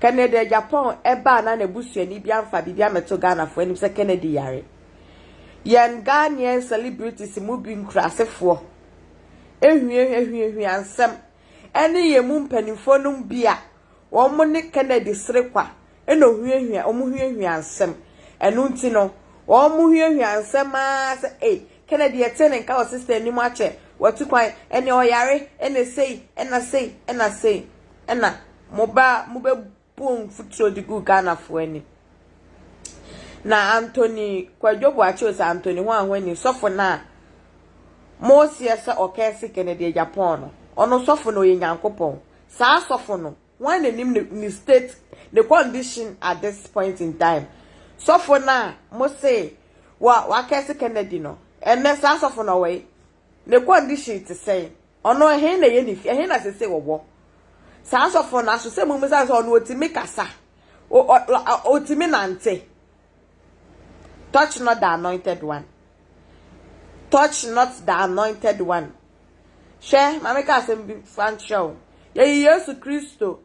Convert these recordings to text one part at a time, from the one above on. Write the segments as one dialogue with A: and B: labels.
A: Kennedy a Japan ba a na n'abusuani bi amfa biribi ammɛto Ghanafoɔ anim sɛ Kennedy yare. Yɛn Ghanaian celebrities mu bi nkurasefoɔ ahuahuahua nsɛm ne yɛn mu mpanimfoɔ nom bi a wɔne Kennedy serekwa na ohuahua wɔn huahua nsɛm. Ɛno nti no, wɔn huahua nsɛm ara sɛ ei, Kennedy yɛtee ne nka wɔ sister anim akyɛ wati kwan, ɛnneɛ ɔyare, ɛnna sei, ɛnna sei, ɛnna sei. na mobaa mobɛbɔɔ mfuturo de guu Ghanafoɔ anim. Na Anthony Kwadwo Boakye Osei Anthony ho a ho ani sɔfo no a moseɛ sɛ ɔkɛse Kennedy Agyapong no, ɔno sɔfo no ɔyɛ Nyankopɔn. Saa sɔfo no, wɔn na nim ne state, ne condition at this point in time. Sɔfo no a mose wa wakɛse Kennedy no, ɛnɛ saa sɔfo no ɔwɔ yi? Ne condition te sɛn? Ɔno ɛhe na ɛyɛ ne fie? Ɛhe na sese wɔwɔ? Saa asɔfo no aso sɛ mumisa sɛ ɔno otumi kasa? Otumi nante? Touch not the anointed one. Touch not the anointed one. Hwɛ, maame ka asɛm bi fa nkyerɛ wo. Yɛyi Yesu Kristo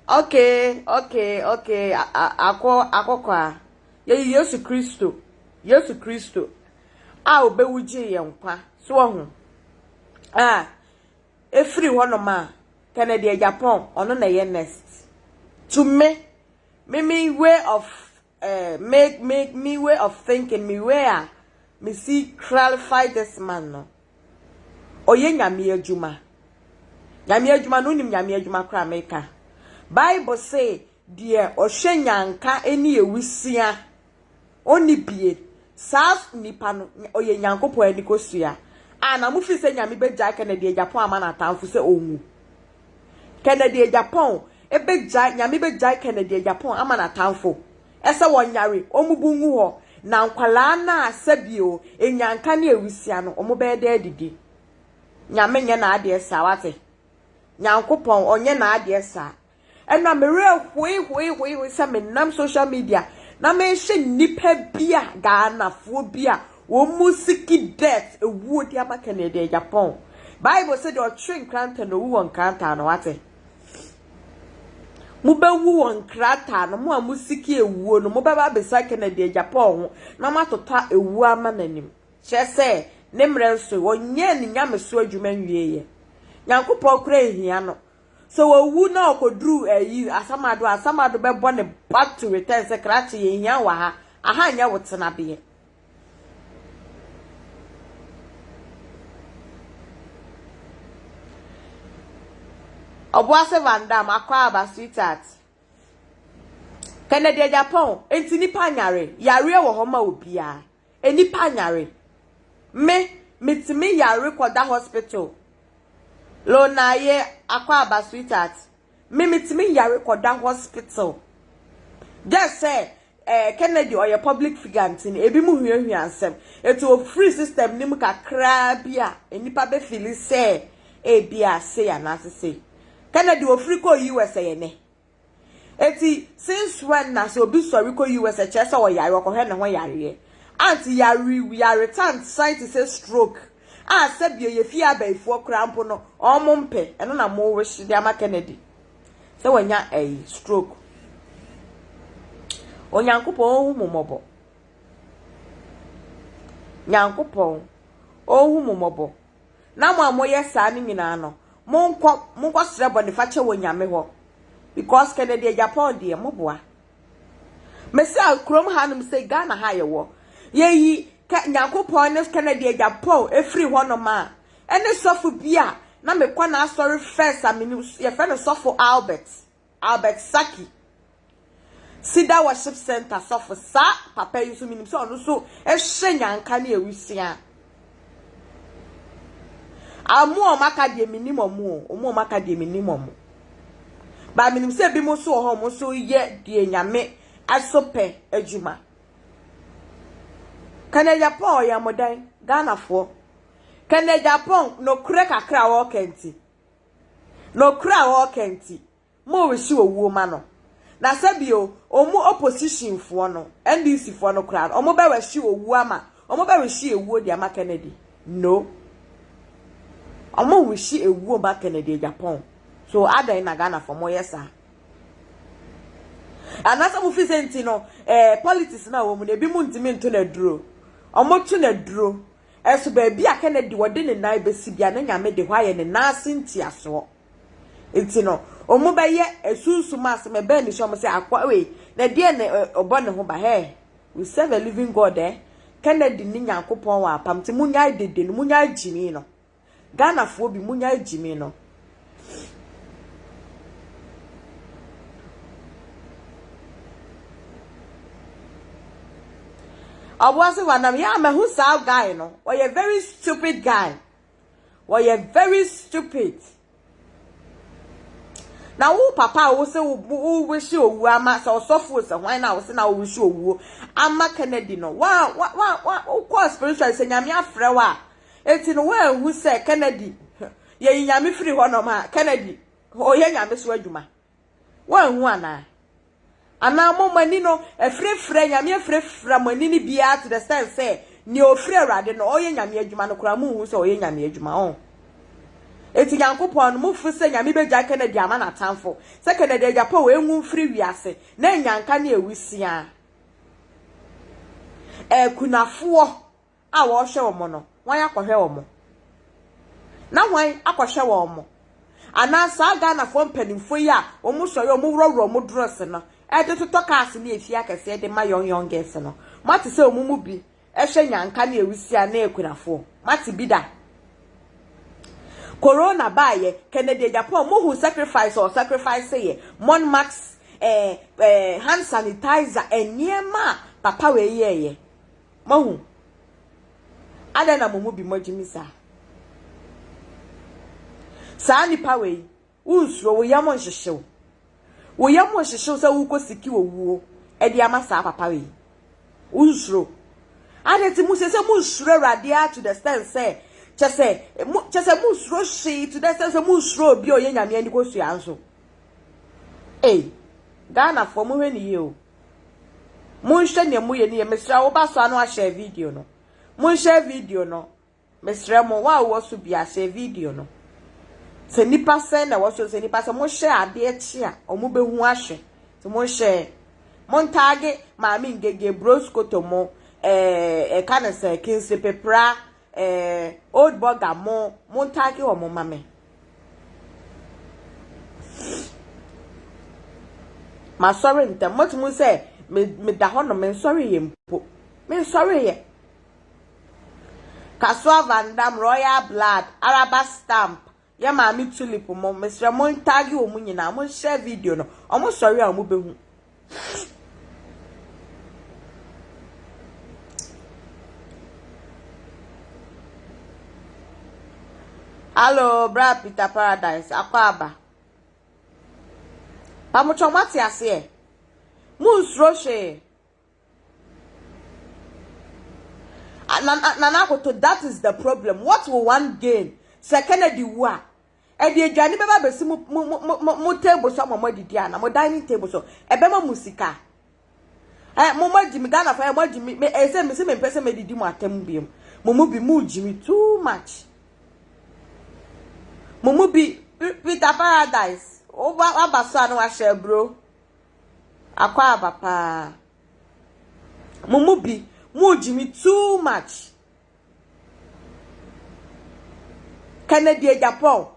A: Okay okay okay ako akokoaa yɛyi Yesu Kristo Yesu Kristo a ɔbɛwu gyee yɛn nkwa so wahu a ɛfiri hɔnom a Kennedy Agyapong ɔno na ɛyɛ next to me me me way of eh, me, me, me way of thinking, me way a me si clarify this man no. Ɔyɛ nyame adwuma. Nyame adwuma no, wonim nyame adwuma koraa meka. Bible se, deɛ ɔhwɛ nyanka ne awusia, ɔnni bie. Saa nipa no, ɔyɛ Nyankopɔn anikosua. A na mofiri sɛ nyame bɛgyae Kennedy Agyapong ama n'atamfo sɛ ɔnwu. Kennedy Agyapong bɛgyae, Nyame bɛgyae Kennedy Agyapong ama n'atamfo, sɛ wɔnyare, wɔmmubu ngu hɔ, na nkwadaa no a sɛbio nnyanka ne awusia no, wɔbɛyɛ dɛ adidi. Nyame nyɛ n'adeɛ saa, wate? Nyankopɔn, ɔnyɛ n'adeɛ saa. Ɛna me werɛ hoe hoe hoe hoe sɛ menam social media na mehye nnipa bi a, Ghanafoɔ bi a, Wɔn mu siki death ewuo de ama kɛnɛ deɛ Japan. Bible sɛ deɛ ɔtwe nkrantɛ na owu wɔ nkrataa no wate. Mo bɛ wu wɔ nkrataa no mo a mo siki ewuo no mo bɛ ba besa kɛnɛ deɛ Japan ho na mo atotɔ ewuo ama n'anim. Kyerɛ sɛ ne mmerɛ nso ɔnyɛɛ ne nyameso adwuma nwie yɛ. Nyankopɔn kora nhia no. Sɛ owu na ɔkɔduru ayi asamado a asamado bɛbɔ ne back to return sɛ krakye yɛnhia wo wɔ ha aha nyɛ wo tenabeɛ. Obuase Van Dam akɔ aba sweetheart. Kennedy Agyapong, enti nipa nyare, yareɛ wɔ hɔ ma obiara. Enipa nyare. Me, metumi yare kɔda hospital. Lonaye akɔ aba sweetheart, Me metumi yare kɔda hospital just sɛ eh, Kennedy ɔyɛ public figure nti no ebi mu huahua nsɛm eti ofiri system no mu kakraa bi a nnipa bɛfili sɛ ebi a sei anaasɛ sei Kennedy ofiri kɔ US ɛyɛ nɛ eti since when na sɛ obi sɔre kɔ US ɛkyerɛ sɛ ɔyare ɔkɔhwɛ ne ho yareɛ ant yare yaretant scientist sɛ stroke a sɛbio yɛ fie abayifoɔ koraa mpo no ɔmo mpɛ ɛno na mo wish de ama Kennedy sɛ wanya ɛyi stroke Onyankopɔn ɔhu mo mmɔbɔ Nyankopɔn ɔhu mo mmɔbɔ na mo a moyɛ saa no nyinaa no monkɔ monkɔ srɛ bɔnefakyɛ wɔ Nyame hɔ because Kennedy Agyapong deɛ moboa Mese a kurom hanom sɛ Ghana ha yɛwɔ. Yɛyi kɛ Nyankopɔn ne Kennedy agya Paul ɛfiri hɔnom a, ɛne sɔfo bi a na mekɔ n'asɔre first a menim, yɛfrɛ no sɔfo Albert, Albert Saki. Cedar Worship Center sɔfo. Saa papa yi nso menim sɛ ɔno nso hyɛ nyanka ne awusia. Ah, ɔmo a ɔmo aka deɛ menim ɔmo o, ɔmo a ɔmo aka deɛ menim ɔmo. Ba menim sɛ ebinom nso wɔ hɔ ɔmo nso yɛ deɛ Nyame ɛso pɛ adwuma. Kɛnɛ Japan ɔyɛ mo dɛn? Ghanafoɔ. Kɛnɛ Japan nokorɛ kakra a ɔɔka nti. Nokorɛ a ɔɔka nti. Mo rehye owuo ma no. Na sɛ bio, omu opposition foɔ no, NDC foɔ no koraa no, omo bɛ rehye owuo ama, omo bɛ rehye ewuo de ama Kennedy? No. Omo rehye ewuo ma Kennedy Agyapong. So adɛn na Ghanafoɔ mo yɛ saa? Anaasɛ mo firi sɛ nti no eh, politics no a wɔmu no, ebi mo ntumi nto no aduro. Omo to no aduro. Ɛso baabi a Kennedy wɔde ne nan bɛsi bia, ne Nyame de hɔ ayɛ ne nan ase ntiasoɔ. Nti no, ɔmo bɛyɛ asunsum asɛm, ɛbɛn ne su a ɔmo sɛ akoa wei na deɛn na ɔbɔ ne ho ba hɛɛ, we serve a living God eh, Kennedy ne Nyankopɔn wɔ apam nti monyae dede no, monyae gyimii no, Ghanafoɔ bi monyae gyimii no. Ɔboase Wanam, yeah mahu saa guy no, ɔyɛ very stupid guy. wɔyɛ very stupid na wo papa a wosɛ wowehye owuo ama sɛ ɔsɔfo sɛ hwan na wosɛ na wowehye owuo ama kennedy no wa wa wa wa wokɔɔ spiritual sɛ nyame afrɛ wo a eti no woanhu sɛ kennedy yɛyi nyame firi hɔ nom a kennedy ɔyɛ nyame so adwuma Woanhu anaa? Anaa mo, mo ani no, afirafira, Nyame afirafira mo ani no biara to the extent sɛ, nea ɔfiri Awurade no, ɔreyɛ Nyame adwuma no koraa, monhu sɛ ɔreyɛ Nyame adwuma? Ɔn? Enti Nyankopɔn no, mofo sɛ Nyame bɛgyae Kennedy ama n'atamfo? Sɛ Kennedy agya pɛ o, enwu mfiri wiase, na anyanka ne awusiaa. Akunafoɔ! a wɔrehwɛ wɔn no, hwan akɔhwɛ wɔn? Na hwan akɔhwɛ wɔn? Anaa saa Ghanafoɔ mpanimfoɔ yi a wɔsɔre a wɔworɔworɔ wɔn drɔs no de totɔ cars ne efie akɛseɛ de ma young young girls no, moate sɛ wɔn mu bi hwɛ nyanka ne awusia ne akunafoɔ? Moate bi da? Corona baayɛ, Kennedy Agyapong, mohu sacrifice ɔ sacrifice yɛ, mon max, eh, eh, hand sanitizer, nneɛma a papa wei yɛɛyɛ. Moahu? Adɛn na mo mu bi moagye me saa? Saa nnipa wei, wonsuro, wo yam nhyehye wo. Wo yam nhyehye wo sɛ worekɔ siki owuo de ama saa papa wei. Wonsuro. Adɛn nti mo sɛ sɛ monsuro Awurade ara to the extent sɛ kyɛ sɛ mo kyɛ sɛ monsuro hwee to the extent sɛ monsuro obi a ɔyɛ Nyame ani kosua nso. Ei, Ghanafoɔ mohwɛ ne yie o. Monhwɛ nea moyɛ no yie. Mesrɛ wo ba so a na wahyɛ video no. Monhyɛ video no. Mesrɛ mo, wo a wowɔ so bia hyɛ video no. Sɛ nipa sɛn na ɛwɔ so sɛ nipa sɛ mohyɛ adeɛ kye a wɔn bɛhu ahwɛ. Sɛ monhyɛ montaage maame ngege bros kotomo ɛɛ ɛka ne sɛ kinsi pepra. eh, old burger mo mo ntagi wɔn ma me masɔre ntɛm mɔtumi sɛ meda hɔ no mensɔre yɛ mpo mensɔre yɛ kasoa vandam royal blood araba stamp Yɛ maame tulip mo mesrɛ mo tag wɔn nyinaa mo share video no wɔn sɔre a wɔn bɛhu. Hello, bra Peter Paradise, akɔ aba. Pamotɔ mo ate aseɛ. Mo nsuro hwee. Nana Akoto that is the problem what will one gain sɛ Kennedy wu a ɛde aduane bɛba abɛsi mo mo mo mo mo table so ama mo adidi ana mo dining table so ɛbɛma mo sika ɛ mo mo agyi mi Ghana fo ɛ mo agyi mi ɛ sɛ mi si mi mpɛ sɛ mi didi mo atɛm bi mu mo mo bi mo gyi mi too much mo mo bi Peter Paradise waba so a na wahyɛ aburo. Akwaaba paa. Mo mu bi, mo gyimi too much. Kennedy Agyapong.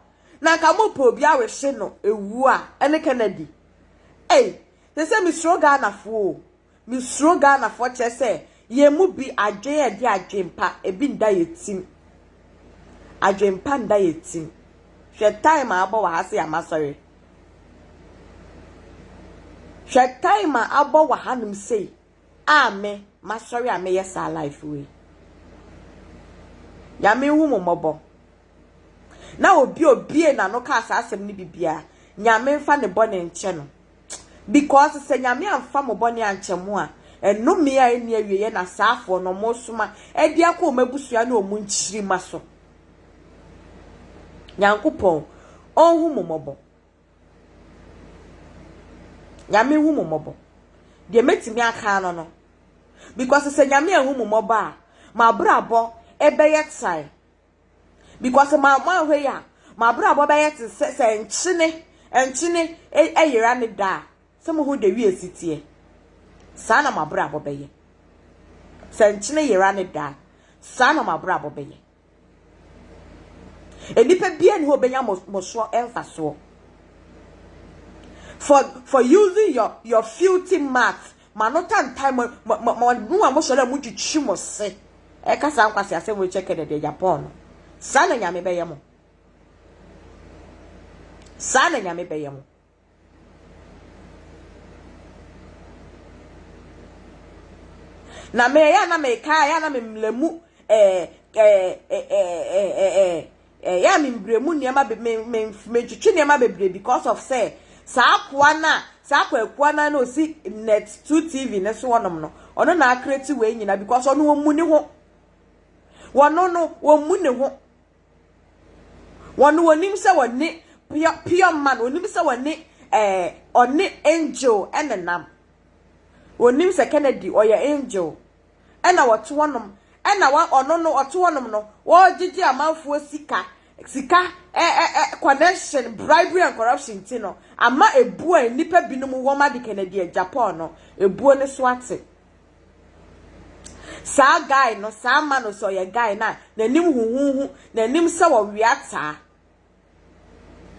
A: Na nka mo pɛ obi awehye no ewu a, ɛne Kennedy. Ei, sɛ sɛ mesuro Ghana foɔ o. Mesuro Ghanafoɔ kyerɛ sɛ yɛn mu bi adwen a ɛde adwenpa ebi nda yɛn tim. Adwenpa nda yɛn tim. Hwɛ time a abɔ wɔ ha sɛ yɛamasɔre. Hwɛ time a abɔ wɔ hanom sei a me masɔre a meyɛ saa life wei. Nyame nhu mo mmɔbɔ. Na obi obie n'ano kaa saa asɛm no bibia, Nyame mfa ne bɔne nkyɛ no. Because sɛ Nyame anfa mo bɔne ankyɛ mo a, ɛnome a ɛnni awieɛ na saafoɔ no wɔresoma de akɔ wɔn abusua ne wɔn nkyirima so. Nyankopɔn, ɔnhu mo mmɔbɔ. Nyame hu mo mmɔbɔ. Deɛ mɛtumi aka no no, because sɛ Nyame anhu mo mmɔbɔ a, mo abrabɔ ɛbɛyɛ tan. because ma moanhwɛ yi a mabrabɔ bɛyɛ te sɛ sɛ nkyene nkyene ɛyera ne da a sɛ mohu da wie si teɛ saa na mabrabɔ bɛyɛ sɛ nkyene yera ne da saa na mabrabɔ bɛyɛ nnipa bia ne hɔ bɛnya mosoɔ ɛmfasoɔ for for using your your filthy mouth Ma no tan tan mo ma ma ma no a mo sɔre a mo kyikyi mo se ɛka saa nkwasi asɛm wei kyɛ kɛdɛ deɛ Japan no saa na nyame bɛyɛ mo saa na nyame bɛyɛ mo na meyɛ na meka ya na memlɛ mu ɛɛ ɛɛ ɛɛ ɛɛ ɛyɛ a membrɛ mu nneɛma be me me mentwetwe nneɛma bebree because of sɛ saa akoa no a saa kwaakua no a na ɔsi net two tv no so hɔnom no ɔno na akreti wei nyina because ɔno ɔmmu ne ho wɔno no wɔmmu ne ho wɔno wɔnim sɛ wɔne pure pure man wɔnim sɛ wɔne ɛɛ eh, ɔne angel ɛnenam wɔnim sɛ kennedy ɔyɛ angel na wɔte hɔnom, na wa ɔno no ɔte hɔnom no ɔregyegye amanfoɔ sika, sika ɛ ɛ ɛ connection, bribery and corruption nti no ama ebuo a nnipa binom wɔn ade Kennedy Agyapong no ebuo no so ate. Saa guy no saa ma no sɛ ɔyɛ guy no a n'anim huhuuhu, n'anim sɛ ɔwea taa.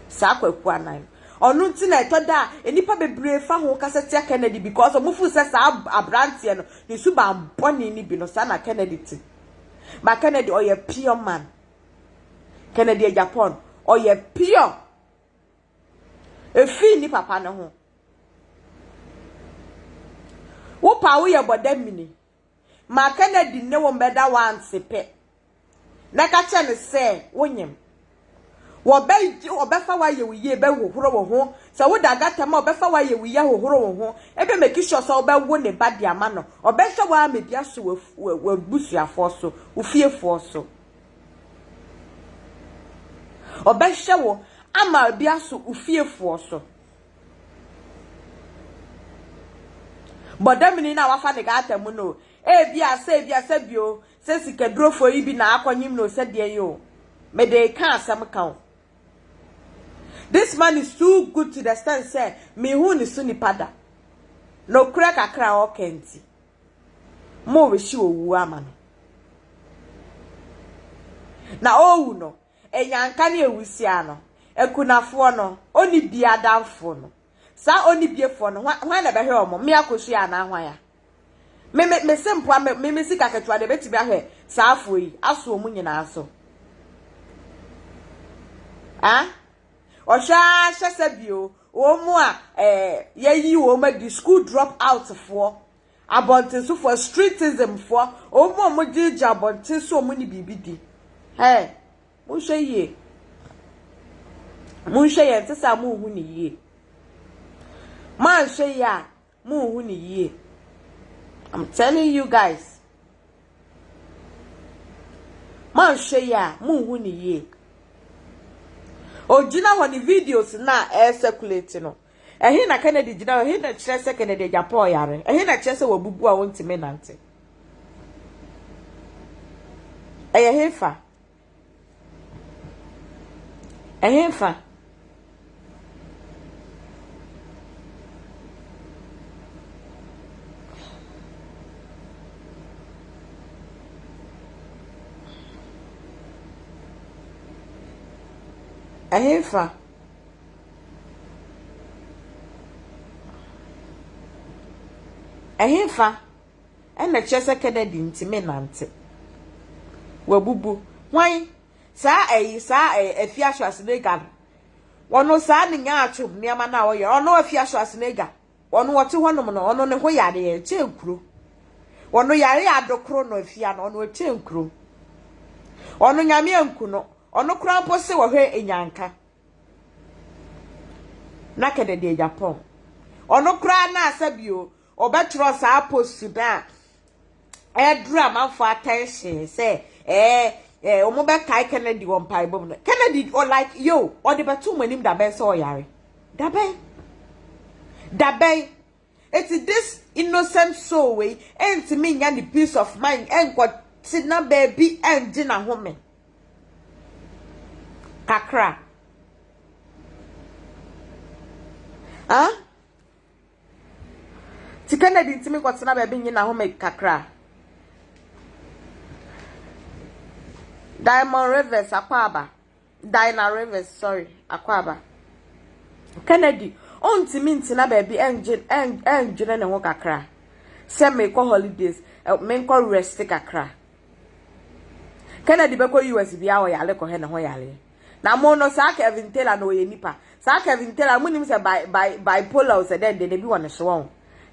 A: Saa kwaku anan no. Ɔno nti na ɛtɔ da a nnipa bebree fa ho kasa tia Kennedy because wɔn feel sɛ saa abranteɛ no ne suban bɔne no bi no saa na Kennedy te. But Kennedy ɔyɛ pure man. Kennedy Agyapong ɔyɛ pure. Efi ni papa no ho. Wo pa wo yɛ bɔda mini. Ma Kennedy nne wo mmɛda w'anse pɛ na ka kyerɛ no sɛ wonyem. Wɔbɛgye wo, wɔbɛfa wo ayɛ wo yie, bɛhohoro wo ho. Sɛ woda agatɛm a, wɔbɛfa wo ayɛ wo yie, ahohoro wo ho. Ebia make sure sɛ wobɛwo ne ba de ama no. Wɔbɛhwɛ wo ara ma ebi aso w'abusuafoɔ so, wo fiefoɔ so. Wɔbɛhwɛ wo ama ebi aso wo fiefoɔ so. Bɔdamini no a wafa ne gata mu no, ebia sɛ ebia sɛ bio sɛ sikadurofo yi bi na akɔnyem no sɛ deɛn yi o, mede reka asɛm ka o. This man is too good to the extent sɛ menhuu ne so nipa da. Nokorɛ kakra a ɔka nti, mobɛhye owuo ama no. Na ɔrewu no, Enyanka ne ewusiaa no, ekunafoɔ no, onibie adamfoɔ no, saa onibiefoɔ no, hwan, hwan na ɛbɛhwɛ wɔn? Mmea akosua anaa hwan a? Me, me, me se mpoa, me, me, me sika ketewa deɛ ebetumi ahwɛ saa afoɔ yi, aso wɔn nyinaa so. Ah? Ɔhwɛ ara hyɛ sɛ bio, wɔn a ɛɛ, eh, yɛyi wɔn adi, school drop out foɔ, Abɔntensofoɔ, streetism foɔ, wɔn a wɔgye gye abɔnten sɛ wɔn ne biribi di. Hey! Monhwɛ yie. Monhwɛ yie, ɛnte saa monhu ne yie. Moanhwɛ yie a, monhu ne yie. I'm telling you guys. Moanhwɛ yie a, monhu ne yie. Ogyina hɔ ne videos no a ɛyɛ circulate no. Ɛhe na Kennedy gyina? Ɛhe na ɛkyerɛ sɛ Kennedy agya Paul yare? Ɛhe na ɛkyerɛ sɛ wabubu a ɔntumi nante? Ɛyɛ hefa? Ɛhefa? Ɛhefa? Ɛhefa na ɛkyerɛ sɛ Kennedy ntumi nnante? Wabubu. Hwan? Saa ɛyi, saa ɛyɛ Afia Schwarzenegger no. Ɔno saa ne nyaa atom nneɛma no a ɔyɛ. Ɔno Afia Schwarzenegger. Ɔno ɔte hɔnom no, ɔno ne ho yare a ɛkyɛ nkuro. Ɔno yare a ado koro no afia no, ɔno ɛkyɛ nkuro. Ɔno Nyame anku no, ɔno koraa mpo se wɔhwɛ Enyanka na kɛdɛ deɛ Japan. Ɔno koraa na asɛbio ɔbɛtwerɛ saa post no a ɛreduru amanfoɔ attention sɛ ɛɛ ɛɛ wɔn bɛkae Kennedy wɔ mpaebɔ mu no Kennedy ɔ like yo ɔde bɛto wɔn anim dabɛn sɛ ɔyare dabɛn dabɛn eti this innocent soul wei ɛntumi nya ne peace of mind ɛnkɔ tena baabi ɛngye n'ahome kakra ah. Ntsi Kennedy nntse menkɔtsena beebi nye n'ahome kakra. Diamond Rivers Akwaaba, Dinah Rivers, sorry, Akwaaba. Kennedy onntse me ntsena beebi ngye ndwene ne ho kakra sɛ meekɔ holidays, menkɔ rest kakra. Kennedy bɛkɔ US bia ɔyare kɔhɛ ne ho yareɛ. Na mo no saa Kevin Taylor no ɔyɛ nipa saa Kevin Taylor mo nim sɛ by by bipolar o sɛ dɛn dɛn ebi wɔ ne so wɔn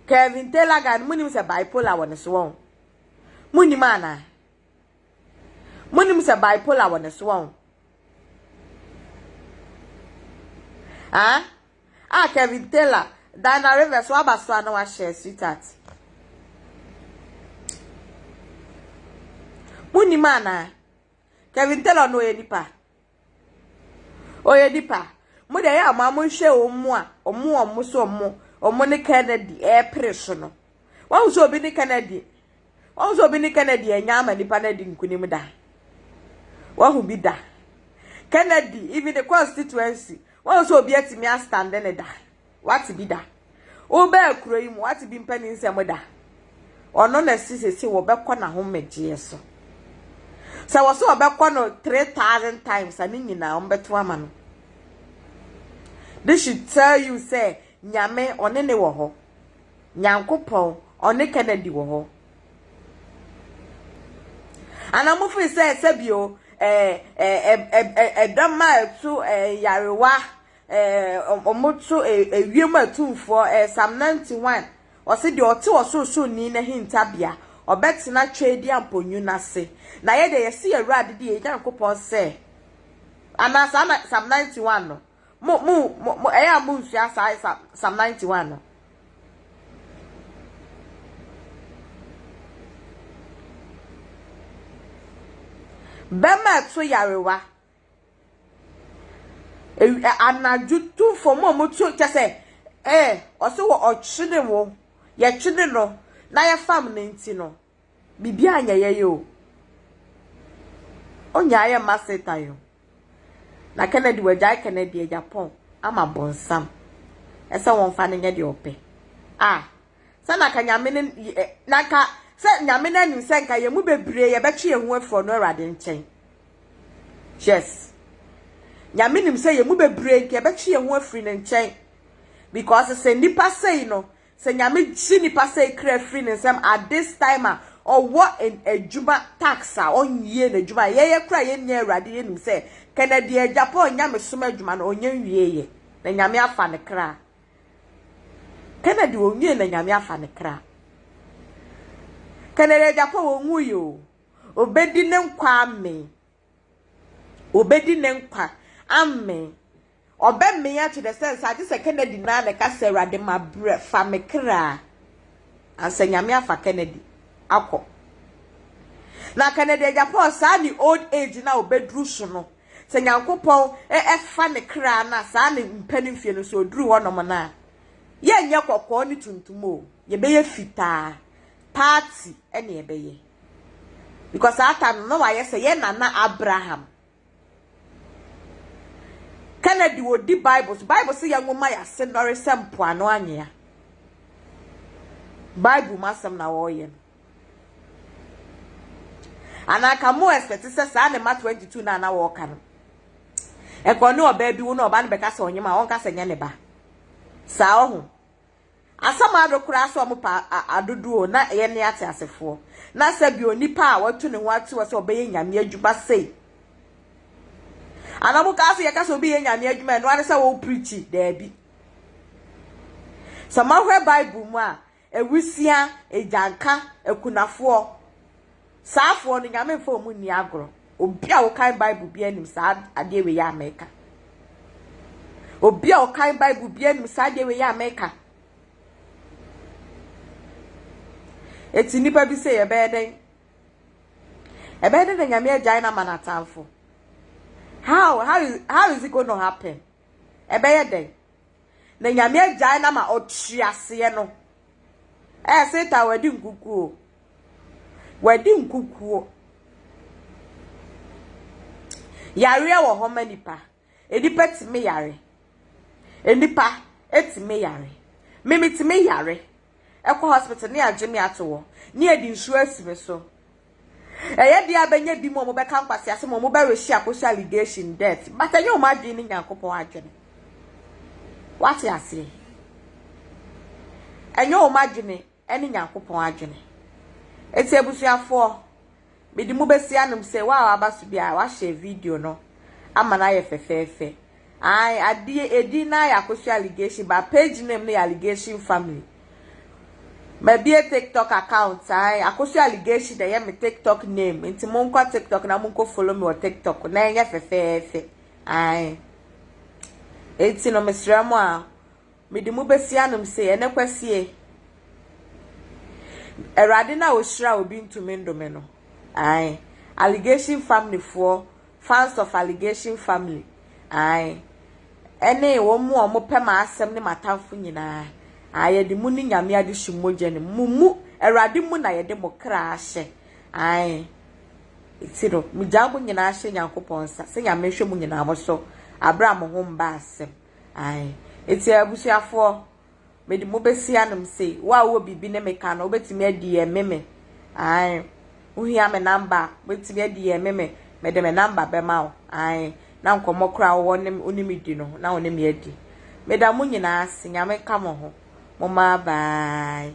A: Kevin Taylor guy no mo nim sɛ bipolar wɔ ne so wɔn mo nim ana mo nim sɛ bipolar wɔ ne so wɔn ah a ah, Kevin Taylor Diana Rivers waba so ana wahyɛ sweetheart mo nim ana. Kevin Taylor no ɔyɛ nipa. Ɔyɛ nipa. Mo deɛ yɛ a ɔmo nhwɛ ɔmo a ɔmo ɔmo so ɔmo ɔmo ne Kennedy ɛɛpere so no. Wɔn sɛ obi ne Kennedy wɔn sɛ obi ne Kennedy ɛnya ama nipa no adi nkunim da. Wɔn bi da. Kennedy even the constituency wɔn sɛ obi atumi astande ne da. W'ate bi da? Wo bɛɛ kuro yi mu w'ate bi mpɛ ne nsɛm da? Ɔno na si sese wɔ bɛkɔ na ho mɛgyeɛ so. Sɛ wɔ so wɔ bɛkɔ no three thousand times a ne nyinaa wɔn bɛto ama no. This should tell you sɛ nyame ɔne ne wɔ hɔ. Nyankopɔn ɔne Kennedy wɔ hɔ. Ana mo firi sɛ sɛbi o ɛɛ ɛɛ ɛdɔm a ɛto ɛɛ yarewa. Ɛɛ, wɔto ewiem atumfoɔ, ɛɛ, Psalm 91, ɔse, Deɛ ɔte Ɔsorosoroni no ahintabea, ɔbɛtena Tweadia mponyo no ase. Na yɛ deɛ yɛse yɛn Awurade de yɛn Nyankopɔn sɛ, anaa saa na Psalm 91 no? Mo, mo, mo, mo ɛyɛ a monsua saa Psalm 91 no? Bɛma ɛto yarewa, Anadwo tumfoɔ, wɔn a wɔtu kyɛ sɛ, ee, ɔse wɔ ɔtwene wo, yɛtwene no na yɛfam no nti no, biribi anyɛ yɛn o. Onnya ayɛ mma Satan o. Na Kennedy, wɔagyae Kennedy, Agyapong ama Bonsam sɛ wɔmfa no nyɛ deɛ ɔpɛ. Ah, sɛ na anka Nyame no, na anka sɛ Nyame no anim sɛ anka yɛn mu bebree yɛbɛtwe yɛn ho afiri ɔno Awurade nkyɛn. Yes. Nyame nim sɛ yɛn mu bebree nka yɛbɛtwe yɛn ho afiri ne nkyɛn. Because sɛ nipa sei no, sɛ Nyame gye nipa sei kra firi ne nsam at this time a, ɔwɔ adwuma tax a ɔnyie n'adwuma. Yɛyɛ kora yɛn nua Awurade yɛnim sɛ Kennedy Agyapong nyamesom adwuma no ɔnyɛ nwieeɛ. Na Nyame afa ne kra. Kennedy onwie na Nyame afa ne kra. Kennedy Agyapong onwui o, obedi ne nkwa amen. Obedi ne nkwa amen. Ɔbɛmen akyɛ dɛ sɛ nsa agye sɛ Kennedy naa na ɛka sɛ Awurade ma brɛ fa me kra ansa Nyame afa Kennedy akɔ. Na Kennedy Agyapong saa ne old age no a obeduru so no. Sɛ Nyankopɔn fa ne kraa no a saa ne mpɛ no mfie no sɛ ɔduru hɔ nom no a, yɛnyɛ kɔkɔɔ ne tuntum o, yɛbɛyɛ fitaa, party ne yɛbɛyɛ. Because saa time no na wayɛ sɛ yɛn nana Abraham. Kennedy ɔdi Bible so, Bible sɛ yɛn nwoma yɛ ase nnɔre sɛ mpoano anwea. Bible mu asɛm na wɔreyɛ no. And I can more expect sɛ saa ne ma 22 na na wɔka no. Ɛkɔ ne ɔbaa bi wo na ɔbaa no bɛka sɛ ɔnyem a ɔnka sɛ nyɛ ne ba. Saa ɔho. Asɛm ado koraa sɛ ɔmo pa adodo o na yɛ ne ate asefoɔ. Na sɛ bi onipa a watu ne ho ate wɔ sɛ ɔbɛyɛ nyame adwuma sei. Ana ɔmo kaa sɛ yɛka sɛ obi yɛ nyame adwuma ɛno ara ne sɛ wo preachi daabi. Sɛ moahwɛ Bible mu a Awusia, agyanka, akunafoɔ, saafoɔ no, Nyame mfa wɔn nni agorɔ. Obi a ɔkan Bible biara nim saa adeɛ wei a meka. Obi a ɔkan Bible biara nim saa adeɛ wei a meka. Eti nnipa bi sɛ yɛbɛyɛ dɛn? Ɛbɛyɛ dɛn na Nyame agyae no ama n'atamfo? How, how, how is it going to happen? Ɛbɛyɛ dɛn? na Nyame agyae no ama ɔte aseɛ no, ɛɛ Satan wadi nkukuo, wadi nkukuo. Yareɛ wɔ hɔ ma nipa, nipa tumi yare, nipa tumi yare, mimi tumi yare, kɔ hospital ne agye me ato hɔ ne adi nsuo asi me so. Ɛyɛ deɛ a bɛnya bi ma wɔbɛka nkwaseasɛm a wɔbɛ rehye akɔhyɛ allegation death but ɛnyɛ wɔn adwene ne Nyankopɔn adwene. Wate aseɛ? Ɛnyɛ wɔn adwene ne Nyankopɔn adwene. Eti abusuafoɔ Mede mo bɛsi anom sɛ wo a waba so biara wahyɛ video no ama no ayɛ fɛfɛɛfɛ. Ae, adeɛ edin no ara yɛ Akosua Allegation but page name no yɛ Allegation Family. Mabie TikTok account, ae, Akosua Allegation na ɛyɛ me TikTok name nti monkɔ TikTok na monkɔ follow me wɔ TikTok na ɛnyɛ fɛfɛɛfɛ. Ae. Enti no mesrɛ mo a Mede mo besi anom se, Ɛnnɛ Kwasie, Awurade no a ɔhyira obi ntumi ndome no. Ae. Allegation family foɔ, fans of allegation family, ae, ɛne wɔn mu a wɔn pɛ m'asɛm ne m'atamfo nyinaa, ae, yɛde mo ne Nyame adehye mogya no mu, mo mu, Awurade mu na yɛde mo kra ahyɛ, ae, eti no, megyaa mo nyinaa hyɛ Nyankopɔn nsa, sɛ Nyame nhwɛ mo nyinaa mo so, aberɛ a mo ho mba asɛm. Ae. Enti abusuafoɔ, mede mo bɛsi anom sei. Wo a wowɔ biribi ne me ka no, wobɛtumi aDM me. Ae. Wohia me namba a, wobɛtumi aDM me. Mede me namba bɛma wo. Ae. Na nkɔmmɔ koro a wowɔ ne, wo ne me di no, na wo ne me adi. Meda mo nyinaa ase. Nyame nka mo ho. Momma bye.